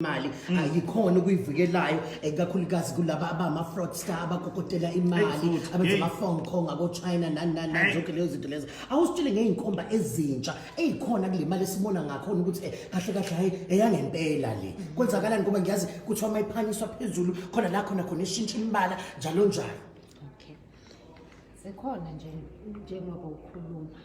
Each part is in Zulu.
imali hmm. ayikhona ukuyivikelayo ikakhulukazi kulaba abama-fraudster abakokotela imali abenza ama-phone call ngakochina nani nani nani zonke leyo zinto lezo awusitshele ngey'nkomba ezintsha ey'khona kule mali esibona ngakhona ukuthi eh, kahle kahle hhayi eyangempela le hmm. kwenzakalani ngoba ngiyazi kuthiwa uma iphanyiswa phezulu khona la khona khona eshintsha imbala njalo njalo zikhona nje njengoba ukhuluma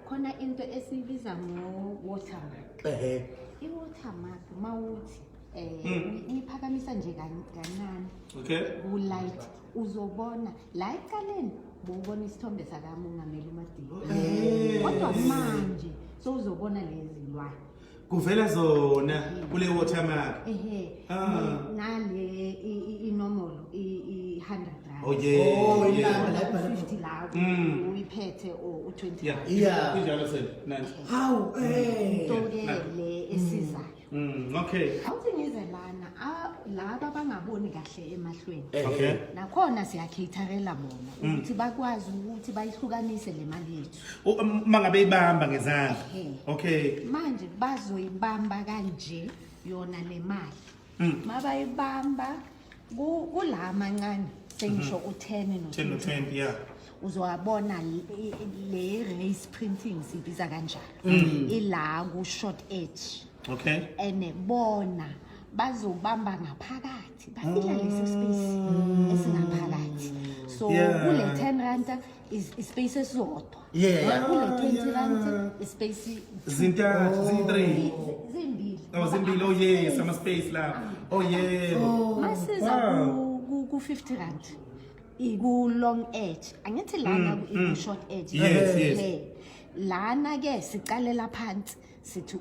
khona into esiyibiza ngo-watermark ehe i-watermark uma uthi um uyiphakamisa nje kan- kancane okay kulight uzobona la ecaleni bowubona isithombe sakamongameli umadini kodwa manje sowuzobona lezi lwane kuvela zona kule watermark ehe Ah. nale i- i- inomolo i- i-100 rand oh yeah, Oh, yeah. ilanga la ibhalwe khona. 50 lawo Mm. uyiphethe or u-20 Yeah. Yeah. Injalo sir. Nice. Hawu eh. into ke le esizayo Mm, okay. awuthi ngize lana a- laba bangaboni kahle emahlweni Eh, Okay. nakhona siyakhatharela bona ukuthi bakwazi ukuthi bayihlukanise le mali yethu mangabe ibamba ngezandla okay manje bazoyibamba kanje yona le mali hmm. mabayibamba kula mancane sengisho mhm. u-10 no-20 yeah uzowabona le race printing sibiza kanjani hmm. ila ku-short edge okay and bona bazobamba ngaphakathi bafika lesi space hmm. esingaphakathi so kule 10 ranta Is- ispace esisodwa Yeah. Ah, kule 20 rand ispace Zintathu, ziyi-three. zimbili Oh, zimbili. Oh, yes. Ama-space lapho. Oh, yebo. masiza Wow. ku- ku- ku 50 rand iku long edge angithi lana ku- iku short edge Mm, Yes, yes. Le. lana ke siqalela phansi sithi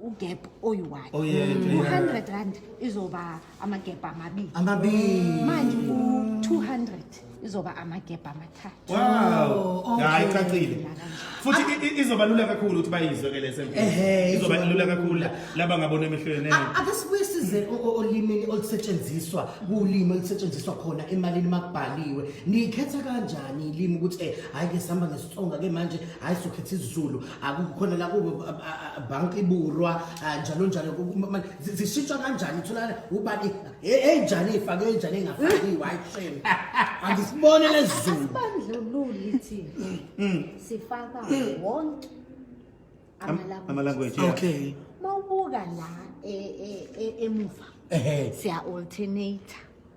ugap oyi-one oh, two hundred rand izoba amagebha amabili amabili manje u-two hundred izoba amagebha amathathu wow oh, hayi cacile futhi ah. izoba lula kakhulu ukuthi bayizwe ke lese izoba lula kakhulu laba ngabona emehlweni ake sibuye size olimini olusetshenziswa kulimi olusetshenziswa khona emalini makubhaliwe nikhetha kanjani ilimi ukuthi eh hayi ke sihamba ngesitsonga ke manje hayi sokhetha isizulu akukhona la kubo bank iburwa njalo njalo manje zishitshwa kanjani utholakala ubani enjani ifake enjani engafakiwe hayi shame angisibone lezulu asibandlululi thina mm, mm. sifaka wonke amalanguage okay mawubuka la e, e, e, emuva siya alternator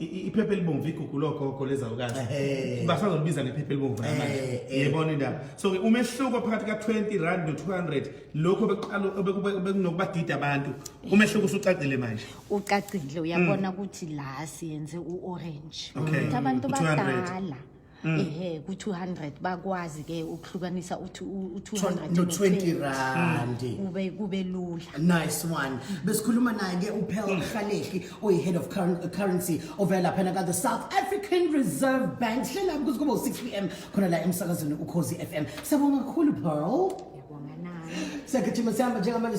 iphepha elibomvu igugu logogo lezalukazi basazolibiza ngephepha elibomvu namanje yebona indaba so-ke umehluko phakathi ka-20 rand no-200 lokho bekunokubadida abantu umehluko usucacile manje ucacile uyabona mm. ukuthi la siyenze u-orange ukuthi abantu badala Mm. ehe ku-200 bakwazi ke ukuhlukanisa uthi u-200 no 20 rand mm. kube kube lula nice one besikhuluma naye ke uphel mm. mhlalehli oyi-head of currency ovela laphana ka-the south african reserve bank hlela kuze kube u-6 p m khona la emsakazweni ukhozi f m siyabonga kakhulu pearl siyagijima sihamba njengamanje